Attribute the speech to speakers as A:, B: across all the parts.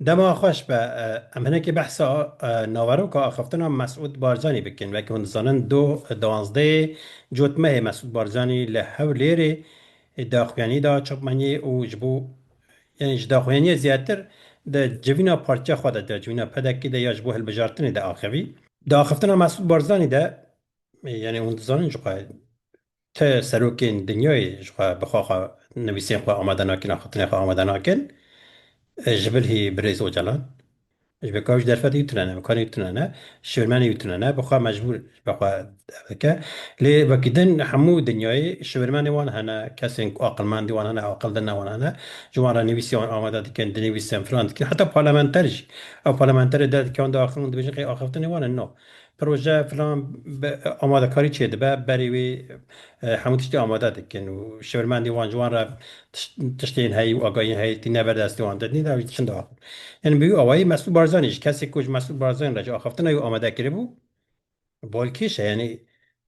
A: Dema xweş be. Em hinekî behsa naveroka axiftina Mesûd Barcanî bikin. Wek hûn dizanin du diwanzdeyê cotmehê Mesûd Barcanî li Hewlêrê daxuyanî da çapmeniyê û ji bo yanî ji daxuyaniyê zêdetir di civîna partiya xwe de, di civîna PDK'ê de ya ji bo hilbijartinê de axivî. Di axiftina Mesûd Barzanî de yanî hûn dizanin jixwe Ti serokên dinyayê ji xwe bi xwe xwe nivîsên xwe amade nakin, axaftinên xwe amade nakin ji bil hî birêz Ocalan. Ji ber ku ew ji derfetê wî tune ne, bi kanê wî tune ne, şivirmenê wî tune ne, bi xwe mecbûr bi xwe ev dike. Lê wekî din hemû dinyayê şivirmenê wan hene, kesên ku aqilmendî wan hene, aqil din ne wan hene, ji wan re nivîsê wan amade dikin, dinivîsin, filan dikin. Heta parlamenter jî. Ew parlamenterê derdikê wan diaxivin û dibêjin xêr axaftinê wan in? No. Proje filan bi amadekarî çêdibe, berî wî hemû tiştî amade dikin û şêwirmendên wan ji wan re tiştên heyî û agahiyên heyî tîne ber destê wan. Di nîna wî diçin diaxivin. Yên bi wî awayî Mesûd Barzanî jî kesê ku ji Mesûd Barzanî re ji axaftina wî amade kiribû balkêş e. Yanî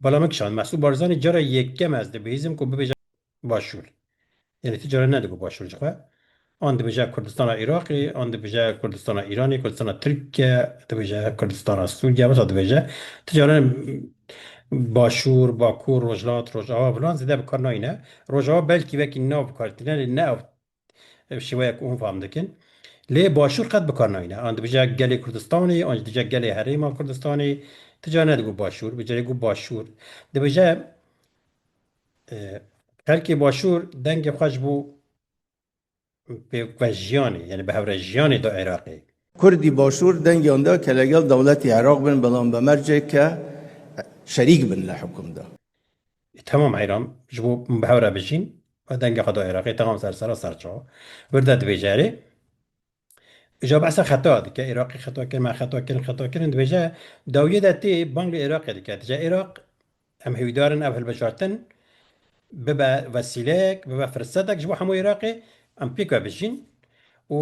A: bala min kişand. Mesûd Barzanî cara yekem ez dibihîzim ku bibêje. Başûr. Yanî ti caran nedigo Başûr ji xwe. An dibêje Kurdistana Îraqê, an dibêje Kurdistana Îranê, Kurdistana Tirkê, dibêje Kurdistana Sûriyê, wisa dibêje. Ti caran Başûr, Bakur, Rojhilat, Rojava filan zêde bi kar nayîne. Rojava belkî wekî nav bi kar tîne lê ne ew Ev şêweya ku hûn fam dikin. Lê başûr qet bikar nayîne. An dibije gelê Kurdistanê, an jî dije gelê Herêma Kurdistanê. Ti cara nedigot başûr, bi carê got başûr. Dibije xelkê başûr dengê xwe ji bo pêkvejiyanê, yanî bi hewrejiyanê da Iraqê. Kurdî başûr
B: dengiyan da ke legel dewletê Iraq bin, belam bi mercek ke şerîk bin li hikum da. Temam
A: Eyran ji bo bi hev re bijîn û dengê xwe da Iraqê temam ser sera ser çawa. Wir de dibêje erê. Îja behsa xeta dike, Iraqê xeta kir, me xeta kirin, xeta kirin dibêje. Dawiyê de tê bang li Iraqê dike. Dije Iraq em hêwîdar in ev hilbijartin bibe wesîleyek, bibe firsetek ji bo hemû Iraqê em pêk ve bijîn û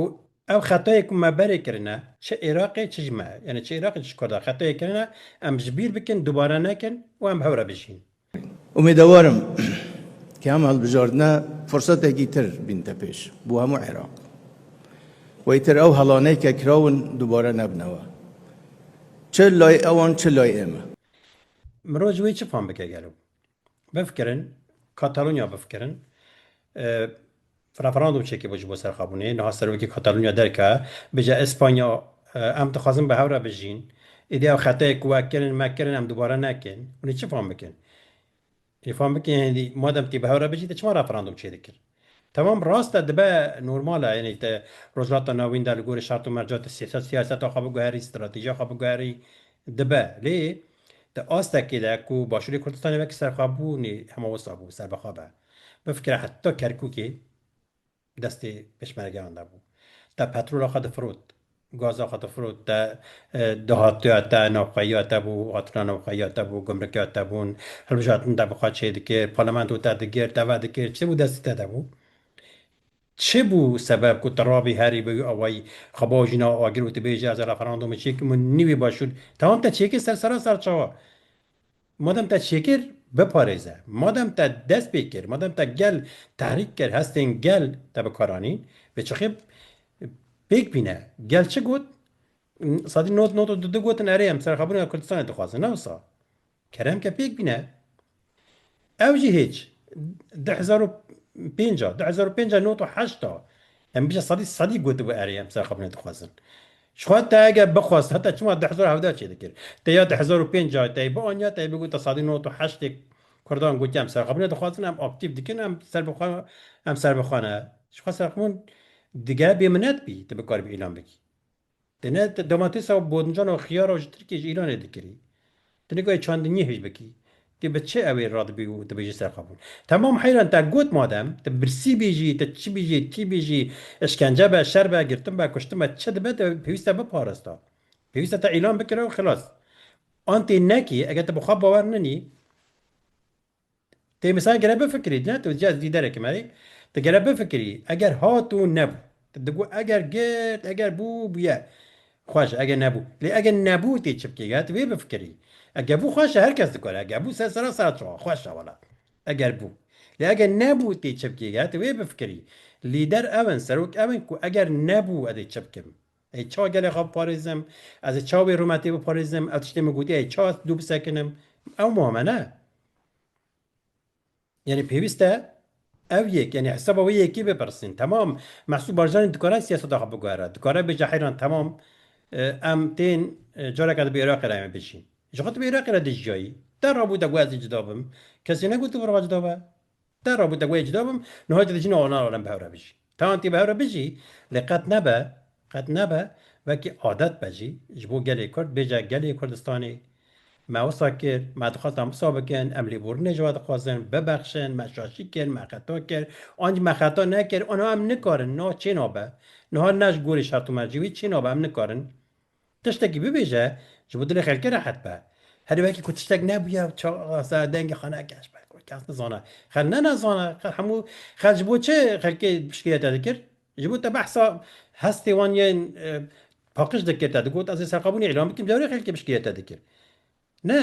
A: Ev xetayê ku me berê kirine çi Iraqê çi ji me yanî çi Iraqê çi ji Kurda xetayê kirine em ji bîr bikin dubare nekin û em hew re bijîn. Umêdewar
B: im ke em hilbijardine fursetekî tir bînte pêş bo hemû Iraq û îtir ew helanê ke kirawin dubare nebine we çi lay ewan çi lay ême. Mirov
A: ji wê çi fam bike gelo? Bifikirin, Katalonya bifikirin. Referandum çekê bo ji bo serxabûnê. Niha serokê Katalonya derke bije Espanya em dixwazin bi hev re bijîn. Êdî ew xeteyê ku we kirin me kirin em dubare nekin. Hûn ê çi fam bikin? Hûn ê fam bikin hêdî madem tê bi hev re bijî te çima referandum çêdikir? Temam rast e dibe normal e yanî te Rojhilata Navîn de li gorî şert û merca tu siyasat siyaseta xwe biguherî stratejîya xwe biguherî dibe lê di astekê de ku Başûrê Kurdistanê wekî serxwebûnê hema wisa bû serbixwe be bifikire heta Kerkûkê destê peşmergeyan de bû te petrola xwe difirot Gaza xwe difirot te dahatiya te, navxweyiya te bû, hatina navxweyiya te bû, gumrikiya te bûn, hilbijartin te bi xwe çêdikir, parlamento te digir, te vedikir, çi bû destî te de bû? Çi bû sebeb ku tu rabî herî bi wî awayî xwe bo jina agir û tu bêjî ez referandumu çêkim û nî wî başûr? Tewam te çêkir ser serasar çawa? Madem te çêkir, biparêze. Madem te dest pê kir, madem te gel tehrîk kir, hestên gel te bi kar anîn, vê çixê pêk bîne. Gel çi got? Sadî nod nod û du du gotin erê em serexabûna Kurdistanê dixwazin. Ne wisa. Kerem ke pêk bîne. Ew jî hêç. Du hezar û pênc a, du hezar û pênc a nod û heşt a. Em bije sedî sedî gotibû erê em serxapînê dixwazin. Ji xwe te eger bixwest heta çima du hezar û hevdeh çê dikir. Te ya du hezar û pênc a teyê bianiya teyê bigot te sedî nod û heştê kurdan gotiye em serxapînê dixwazin em aktîf dikin em ser bi xwe em ser bi xwe ne. Ji xwe serxapîn dige bêminet bî te bikaribî îlan bikî. Te ne domatesa û bodincan û xiyara û ji Tirkiyê ji Îranê dikirî. Tu nika yê çandiniyê hêj bikî. Ti bi çi ew ê radibî û dibêjî serqabûn. Temam heyran te got madem ti birsî bêjî, ti çi bêjî, kî bêjî, işkence be, şer be, girtin be, kuştin be, çi dibe tu pêwîst e biparasta. Pêwîst e te îlan bikire û xilas. An tê nekê eger tu bi xwe bawer nenî. Tê misal gere bifikirî ne tu cez lîderekî me yî tu gere bifikirî eger hat û nebû tu got eger girt eger bû bûye xweş e eger nebû lê eger nebû tê çi bikî eger tu vê bifikirî eger bû xweş e her kes dikare eger bû ser sera saet çawa xweş e wala eger bû lê eger nebû tê çi bikî eger tu vê bifikirî lîder ew in serok ew in ku eger nebû ez ê çi bikim. Ez ça gelê xwe biparêzim, ez ê ça wê rûmetê biparêzim, ew tiştê min gotiye ez ça dû bisekinim, ew muhim e ne? Yanî pêwîst e ew yek yanî hesaba wê yekê bipirsîn. Temam Mehsûd Barjanî dikare siyaseta xwe biguhere, dikare bêje heyran temam em tên careke di bi Iraqê re em ê bijîn. Ji xwe tu bi Iraqê re dijiyayî. Te rabû te got ez ê cida bim. Kesê negot tu bi rava cida be. Te rabû te goyê cida bim, niha tu dijîn anan alem bi hev re bijî. Tan tî bi hev re bijî, lê qet nebe, qet nebe, wekî adet be jî, ji bo gelê Kurd, bêje gelê Kurdistanê, me wisa kir, me dixwest em wisa bikin, em lêbûrinê ji we dixwazin, bibexşin, me şaşî kir, me xeta kir, an jî me xeta nekir, aniha em nikarin, niha çê nabe, niha ne ji gorî şertomercî wî, çê nabe, em nikarin. Tiştekî bibêje ji bo dilê xelkê rehet be. Herî wekî ku tiştek nebûye çaxa dengê xwe neke ji ber ku kes nizane. Xelk ne nezane. Xelk hemû xelk ji bo çi xelkê şikayete dikir? Ji bo te behsa hestê wan yên paqij dikir te digot ez ê serxwebûnê îlan bikim dewrê xelkê bi şikayete dikir. Ne.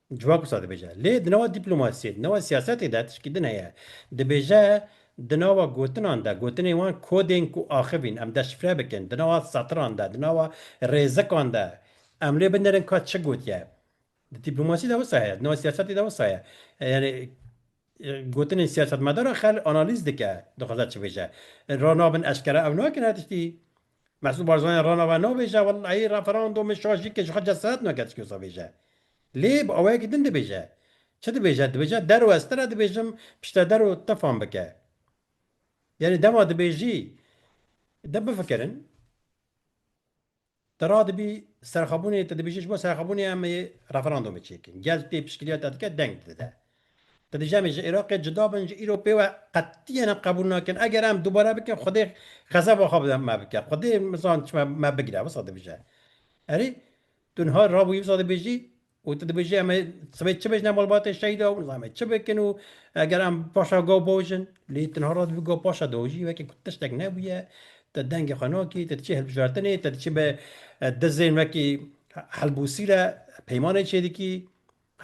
A: Civak wisa dibêje. Lê di nava dîplomasiyê, di nava siyasetê de tişkî din heye. Dibêje di nava gotinan de, gotinên wan kodên ku axivîn em deşifre bikin, di nava setiran de, di nava rêzikan de em lê binerin ka çi gotiye. Di dîplomasiyê de wisa heye, di nava siyasetê de wisa heye. Yanî gotinên siyasetmedara xel analîz dike, dixwaze çi bêje. Ra nabin eşkera ew nakin her tiştî Mesûd Barzanî re nava nabêje, Wellahî referandûm min şajî kir, ji xwe cesaret nake çikî wisa bêje. Lê bi awayekî din dibêje. Çi dibêje? Dibêje der û ez tira dibêjim piştre der û te fam bike. Yanî dema dibêjî de bifikirin. Te radibî serxwebûnê te dibêjî ji bo serxwebûnê em ê referandûmê çêkin. Gel tê piştgiriya te dike deng dide. Di vê jemê ji Iraqê cuda bin ji îro pê we qetiyen em qebûl nakin. Eger em dubare bikin Xwedê xezeba xwe bi me bike. Xwedê zan çima me bigire wisa dibije. Erê tu niha rabûyî wisa dibêjî û tu dibêjî em ê sibê çi bêjine malbatên şehîdan û nizanîme çi bikin û eger em paşa gav biojin. Lê tu niha ra dibî gav paşa diojî wekî ku tiştek nebûye. Tu dengê xwe nakî, tu diçî hilbijartinê, tu diçî bi dizên wekî helbûsî re peymanê çêdikî.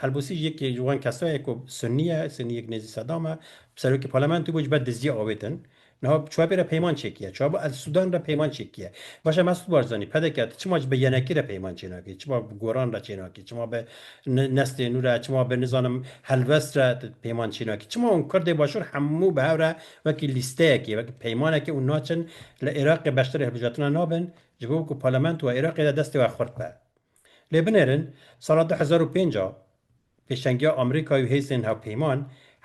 A: Helbûsî yekê ji wan kesan ye ku Sunnî ye, Sunnî yek nêzî Sedam e, serokê parlamento bû ji ber dizdîya avê din. Niha çwabê re peyman çêkiye. Çwabo ez Sudan re peyman çêkiye. Baş em ez tu baş zanî PDK tu çima ji bi yenekî re peyman çênakî, çima bi goran re çênakî, çima bi neslê nû re, çima bi nizanim helwest re tu peyman çênakî. Çima hûn kurdê başûr hemû bi hev re wekî lîsteyekê, wekî peymanekê û naçin li Iraqê beşdarî hilbijartina nabin ji bo ku parlamentoa Iraqê de destê we xurt be. Lê binêrin sala du hezar û pênc a pêşengiya Amerîkayê û hêzên hevpeyman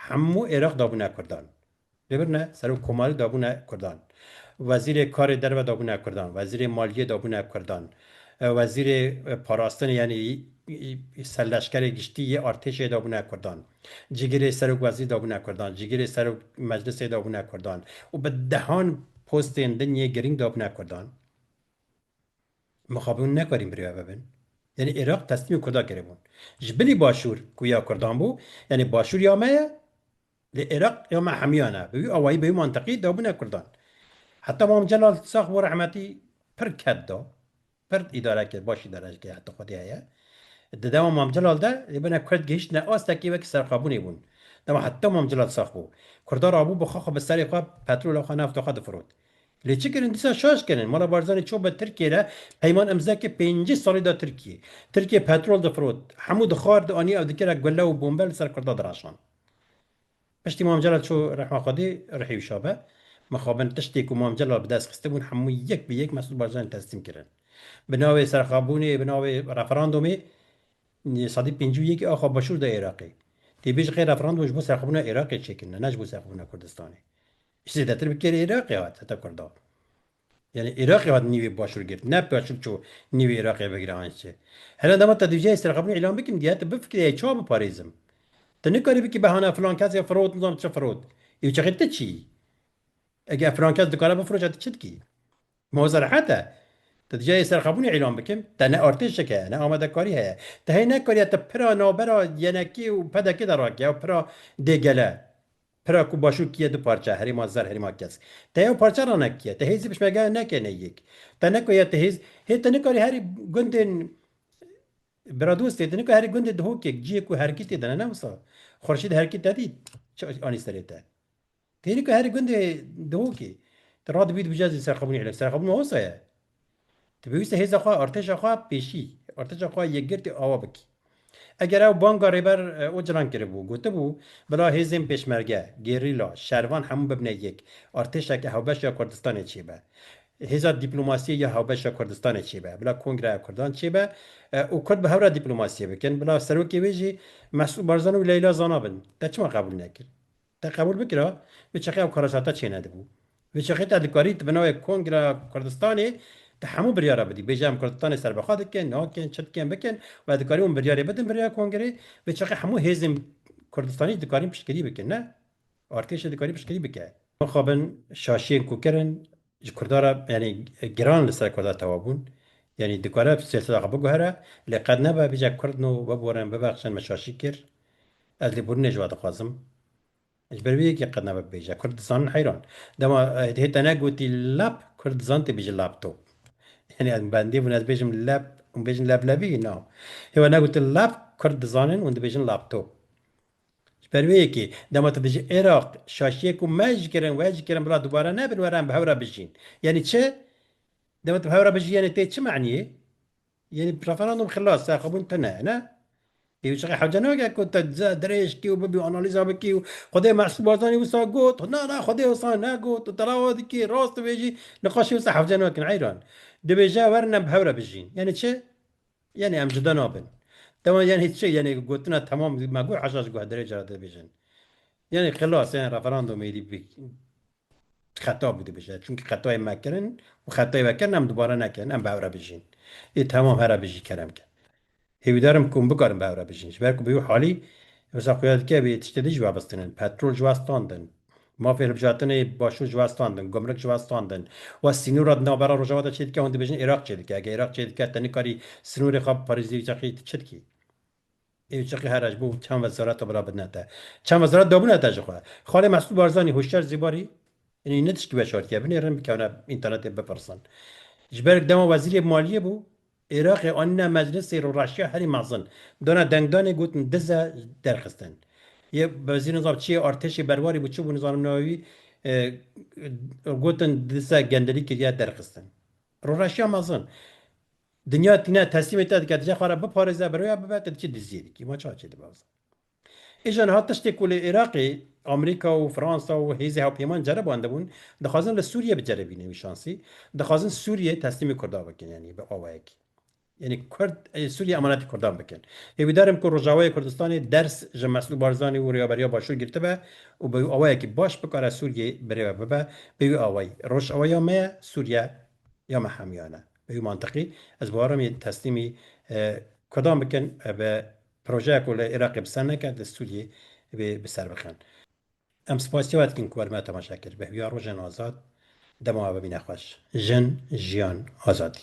A: hemû Êraq dabûne Kurdan. Lê birine Serok Komarî dabûne Kurdan, Wezîrê Karê Derve dabûne Kurdan, Wezîrê Maliyê dabûne Kurdan, Wezîrê Parastinê yanî Serleşkerê Giştî yê Artêşê dabûne Kurdan, Cigirê Serok Wezîr dabûne Kurdan, Cigirê Serok Meclisê dabûne Kurdan û bi dehan postên din yê girîng dabûne Kurdan. Mixabin hûn nekarin birêve bibin. Yanî Iraq teslîmê Kurdan kiribûn. Ji bilî Başûr ku ya Kurdan bû, yanî Başûr ya me ye, lê Iraq ya me hemiyan e. Bi wî awayî, bi wî mantiqî dabûne Kurdan. Heta Mam Celal sax bû rehmetî pir ked da, pir îdare kir, baş îdare jî kir heta xwedî heye. Di dema Mam Celal de lê bine Kurd gihîştine astekî wekî serqabûnê bûn. Dema heta Mam Celal sax bû. Kurdan rabû bi xwe xwe bi serê xwe petrola xwe nafta xwe difirot. Lê çi kirin dîsa şaş kirin. Mala Barzanî çû be Tirkiyê re peyman imzeke pêncî salî da Tirkiyê. Tirkiyê petrol difirot, hemû dixwar dianî ew dikira gule û bombe li ser kurda diraşand. Piştî Mam Celal çû rehma Xwedê rihê wî şabe. Mixabin tiştê ku Mam Celal bi dest xistibûn hemû yek bi yek Mesûd Barzanî teslîm kirin. Bi navê serxabûnê, bi navê referandomê sedî pêncî û yekê axa başûr da Iraqê. Tê bê ji xê referandom ji bo serxabûna Iraqê çêkirine ne ji bo serxabûna Kurdistanê. Ji zêdetir bi kêrê Iraqê hat heta Kurda. Yanî Iraqê hat nîvê başûr girt, ne başûr çû nîvê Iraqê bigire an çi. Hene dema te dûjeyê serxapnî îlan bikin dîya tu bifikirîyayî çawa biparêzim. Tu nikarî bikî behana filan kesê firot nizanim çi firot. Îûçexê ti çiyî? Ege ev filan kes dikare bifiroşe ti çi dikî? Ma wisa rehet e? Te dûjeyê serxapnî îlan bikin, te ne artêşek heye, ne amadekarî heye. Te hê nekarîye tu pira navbera YNKê û PDKê de rakî ew pira dê gele. Pira ku Başûr kiye du parçe, Herêma Zer, Herêma Kesk. Te yew parçe re nekiye. Te hêzî pişmegeyan nekene yek. Te neko ya te hêz, hê te nikarî herî gundên Biradostê, te nikarî herî gundê Dihokek, ciyê ku herkî tê de ne, ne wisa. Xurşîd herkî te dît, çi anî serê te. Te hê nikarî herî gundê Dihokê. Te radibî dibije zî serxwebûnê îlek. Serxwebûn wisa ye. Dipêwîste hêza xwe, artêşa xwe pêşî, artêşa xwe yekgirtî awa bikî. Eger ew banga Rêber Ocalan kiribû, gotibû, bila hêzên pêşmerge, gerîla, şervan hemû bibne yek, artêşeke hewbeş ya Kurdistanê çêbe, hêza dîplomasiyê ya hewbeş ya Kurdistanê çêbe, bila Kongreya Kurdan çêbe û Kurd bi hev re dîplomasiyê bikin, bila serokê wê jî Mesûd Barzanî û Leyla Zana bin. Te çima qebûl nekir? Te qebûl bikira bi çeqe ew karasata çênedibû. Bi çeqê te dikarî di binawê Kongra Kurdistanê de hemû biryara bidî. Bêje em Kurdistanê serbixwe dikin, nakin, çi dikin bikin û ez dikarî wan biryarê bidim birêya Kongrê. Bi çeqê hemû hêzên Kurdistanî dikarîn piştgirî bikin. Ne artêşê dikarî piştgirî bike. Mixabin şaşiyên ku kirin Ji Kurda re yanî giran li ser Kurda tewa bûn. Yanî dikare siyaseta xwe biguhere lê qet nebe bije Kurd no biborin bibexşin me şaşî kir. Ez lêbûrînê ji we dixwazim. Ji ber wî yekê qet nebe bibêje Kurd dizanin heyran. Dema hê te negotî lap Kurd dizan tê bêjin laptop. Yanî ez bendê bûn ez bêjim lep hûn bêjin leblebî na. Hê we negotin lap Kurd dizanin hûn dibêjin laptop. Ji ber wê yekê, dema tu dijî Iraq, şaşiyê ku me ji kirin, we ji kirin bila dubare nebin, were em bi hev re bijîn. Yanî çi? Dema tu bi hev re bijî yanî tê çi maniyê? Yanî referandûm xilas, serxwebûn tune, ne? Ê wişexê hewce nake ku tu dize dirêj kî û bibî analîza bikî û Xwedê Mesrûr Barzanî wisa got, na na Xwedê wisa negot û tu lava dikî, rast dibêjî, niqaşê wisa hewce nakin heyran. Dibêje werin em bi hev re bijîn. Yanî çi? Yanî em cuda nabin. Dewan yanî hiç çi yanî gotina temam me got heşt ji guhdarê cara dibêjin. Yanî xilas yanî referandûmê êdî bi xeta bû dibêje. Çimkî xetayê me kirin û xetayê we kirin em dubare nekin. Em bi hev re bijîn. Ê temam here bijî kerem ke. Hêvîdar im ku hûn bikarin bi hev re bijîn. Ji ber ku bi wî halî wisa xuya dike wê tiştê din jî webistinin. Petrol jî westandin. Mafê hilbijartinê Başûr ji we standin, gumruk ji we standin. We sînora di navbera Rojavada çê dike, hûn dibêjin Iraq çê dike. Eger Iraq çê dike, te nikarî sînorê xwe biparêzî Irqî, tu çi dikî? Irqî here ji bo çend wezareta bila bidine te. Çend wezaret dabûne te ji xwe. Xalê Mesûd Barzanî, Huşyar Zêbarî Enî ne tiştî veşartiye. Binêrin, bikevne înternetê bipirsin. Ji ber dema wezîrê maliyê bû, Iraqê anîne meclisê rûreşiya herî mezin. Dana dengdanê gotin diz e derxistin. Yê wezîr nizam çiyê artêşê berwarî bû çi bû nizanim nava wî gotin diz e gendelî kiriye derxistin. Rûreşiya mezin. Dinya tîne teslîmê te dike dije xwe re biparêze, bi rêya bibe te diçî diziyê dikî. Ma çawa çê dibe bize. Îja niha tiştê ku li Iraqê Amerîka û Fransa û hêzê hewpêman cerebandibûn, dixwazin li Sûriyê biceribînin wî şansî, dixwazin Sûriyê teslîmê Kurdan bikin yanî bi awayekî. Yanî Kurd Sûriyê emanetê Kurdan bikin. Hêvîdar im ku Rojavayê Kurdistanê ders ji Mesûd Barzanî û rêveberiya Başûr girtibe û bi wî awayekî baş bikare Sûriyê birêve bibe bi wî awayî. Rojava ya me ye, Sûriye ya me hemûyan e. Bi wî mantiqî ez bawer im yên teslîmî Kurdan bikin bi Projeya ku li Iraqê bi ser neket li Sûriyê divê bi ser bixin. Em spasî we dikin ku we li me temaşe kir. Bi hêviya rojên azad dema we bimîne xweş. Jin, jiyan, azadî.